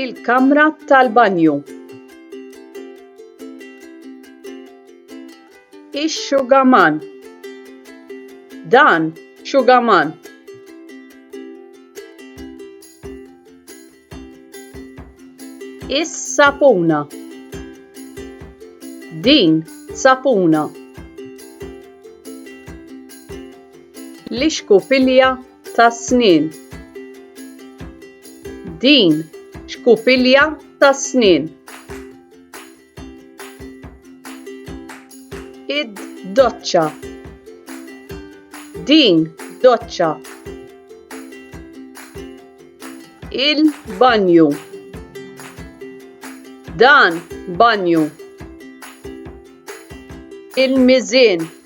il-kamra tal-banju. Ix-xugaman. Dan xugaman. Is-sapuna. Din sapuna. L-ixkupilja tas-snien. Din xkupilja tas-snien. Id doċċa. Din doċċa. Il-banju. Dan banju. Il-mizin.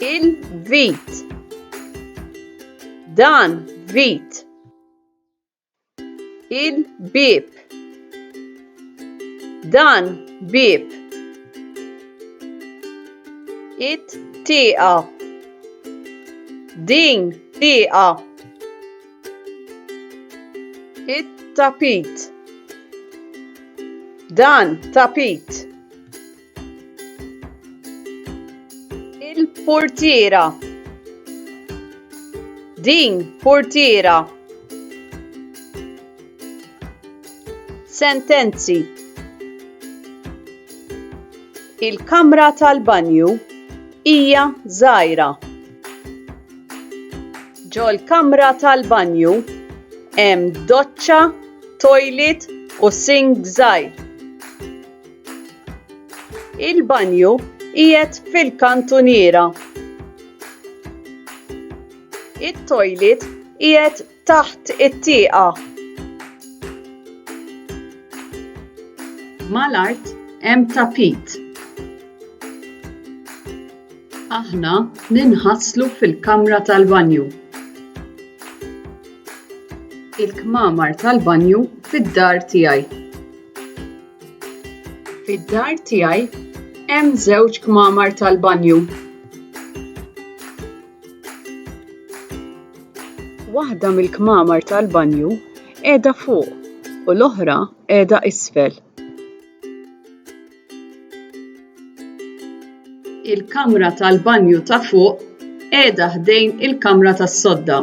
Il-vit. Dan vit. Il-bib. Dan bib. It-tieqa. Din tieqa. It-tapit. Dan tapit. Il-portiera. Din portiera. Sentenzi. Il-kamra tal-banju hija żgħira. Ġol-kamra tal-banju hemm doċċa, toilet u sink żgħir. Il-banju qiegħed fil-kantuniera. It-toilet qiegħed taħt it-tieqa. Mal-art hemm tapit. Aħna ninħaslu fil-kamra tal-banju. Il-kmamar tal-banju fid-dar tiegħi. Fid-dar tiegħi hemm żewġ kmamar tal-banju. Waħda mill-kmamar tal-banju qiegħda fuq u l-oħra qiegħda isfel. Il-kamra tal-banju ta' fuq qiegħda ħdejn il-kamra tas-sodda.